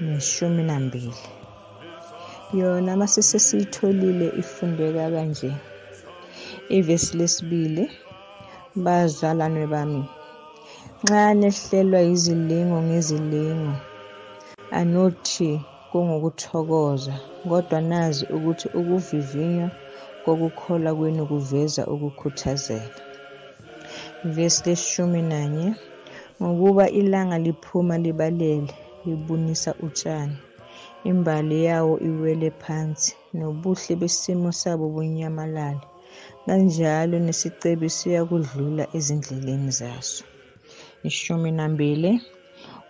neshumi nambili yona masise siyitholile ifundeka kanje ivesi lesibili bazalwane bami nxa nehlelwa yizilingo ngezilingo anothi kungukuthokoza kodwa nazi ukuthi ukuvivinywa kokukholwa kwenu kuveza ukukhuthazela vesi leshumi nanye Ngokuba ilanga liphuma libalele, libunisa utshani. Imbali yawo iwele phansi, nobuhle besimo sabo bunyamalale. Kanjalo nesicebi siyakudlula ezindleleni zaso. Ishumi nambili,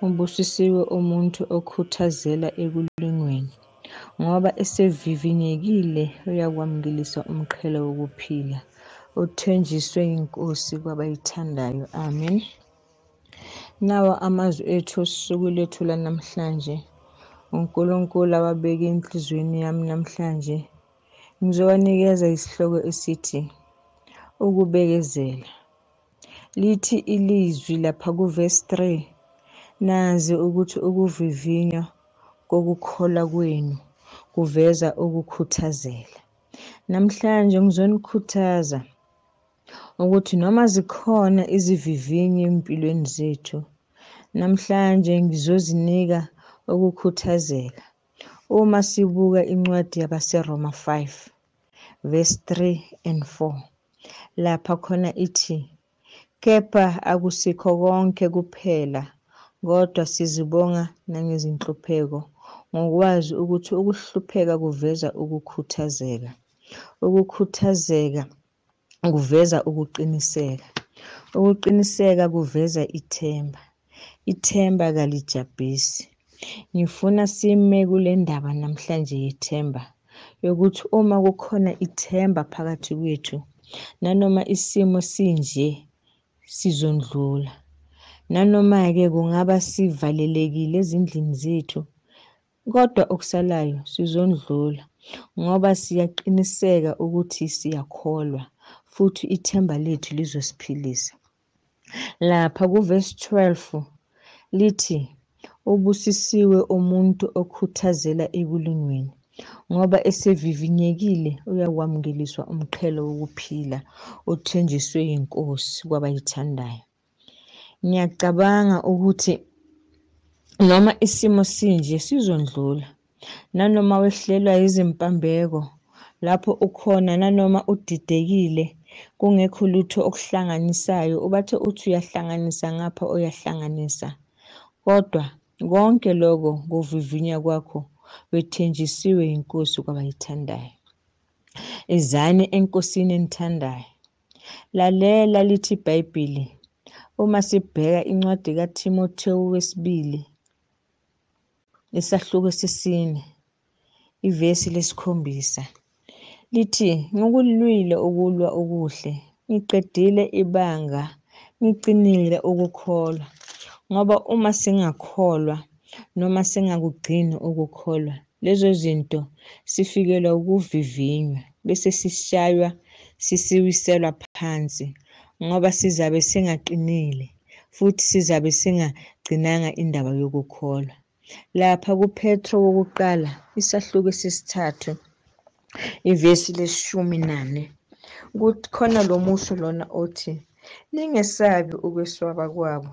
ubusisiwe umuntu okhuthazela ekulingweni, ngoba esevivinyekile uyakwamukelisa umqhele wokuphila uthenjiswe yinkosi kwabayithandayo amen nawo amazwi ethu osuku lethu lanamhlanje unkulunkulu awabeke enhliziyweni yami namhlanje ngizowanikeza isihloko esithi ukubekezela Lithi ilizwi lapha kuvesi 3 nazi ukuthi ukuvivinywa kokukholwa kwenu kuveza ukukhuthazela. Namhlanje ngizonikhuthaza ukuthi noma zikhona izivivinyo empilweni zethu, namhlanje ngizozinika ukukhuthazela. Uma sibuka incwadi yabaseRoma 5, verse 3 and 4 lapha khona ithi kepha akusikho konke kuphela kodwa sizibonga nangezinhlupheko ngokwazi ukuthi ukuhlupheka kuveza ukukhuthazeka ukukhuthazeka kuveza ukuqiniseka. Ukuqiniseka kuveza ithemba. Ithemba kalijabhisi. Ngifuna sime kule ndaba namhlanje yethemba yokuthi uma kukhona ithemba phakathi kwethu nanoma isimo sinje sizondlula. Nanoma-ke kungaba sivalelekile ezindlini zethu Kodwa okusalayo sizondlula ngoba siyaqiniseka ukuthi siyakholwa futhi ithemba lethu lizosiphilisa. Lapha kuvesi 12 lithi ubusisiwe umuntu okhuthazela ekulungweni ngoba esevivinyekile uyakwamukeliswa umqhelo wokuphila othenjiswe yiNkosi kwabayithandayo. Ngiyacabanga ukuthi noma isimo sinje sizondlula. Nanoma wehlelwa yizimpambeko, lapho ukhona nanoma udidekile, kungekho lutho okuhlanganisayo, ubathe uthi uyahlanganisa ngapha uyahlanganisa. Kodwa konke loko kuvivinya kwakho wethenjisiwe yiNkosi kwabayithandayo. Izani eNkosini enithandayo, Lalela lithi iBhayibheli uma sibheka incwadi kaThimothewu wesibili isahluko esisine ivesi lesikhombisa lithi ngikulwile ukulwa okuhle ngiqedile ibanga ngiqinile ukukholwa ngoba uma singakholwa noma singakugcini ukukholwa lezo zinto sifikelwa ukuvivinywa bese sishaywa sisiwiselwa phansi ngoba sizabe singaqinile futhi sizabe singagcinanga indaba yokukholwa lapha kupetro wokuqala isahluko esesithathu ivesi leshumi nane kukhona lo musho lona othi ningesabi ukweswaba kwabo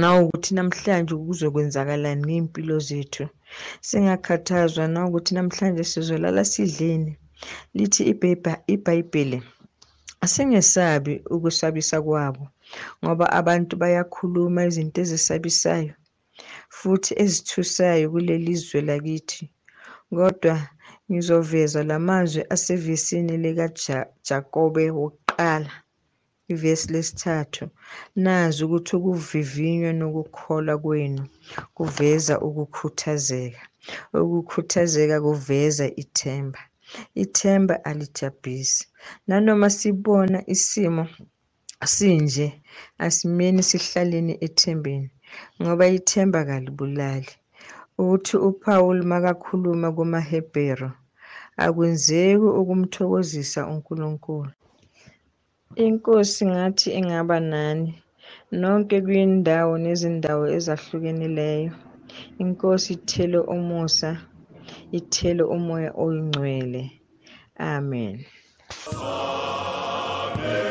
nawukuthi namhlanje kuzokwenzakalani ngey'mpilo zethu singakhathazwa nawukuthi namhlanje sizolala sidleni lithi ibhayibheli asingesabi ukusabisa kwabo ngoba abantu bayakhuluma izinto ezisabisayo futhi ezithusayo kuleli zwe lakithi kodwa ngizoveza la mazwi asevesini likajakobe wokuqala Ivesi lesithathu, nazi ukuthi ukuvivinywa nokukholwa kwenu kuveza ukukhuthazeka. Ukukhuthazeka kuveza ithemba. Ithemba alijabhisi. Nanoma sibona isimo sinje, asimeni sihlaleni ethembeni ngoba ithemba kalibulali. Uthi uPawulu makakhuluma kumaHebheru, akwenzeki ukumthokozisa uNkulunkulu. Inkosi ngathi ingaba nani nonke kwindawo nezindawo ezahlukenileyo. Inkosi ithele umusa, ithele umoya oyingcwele. Amen. Amen.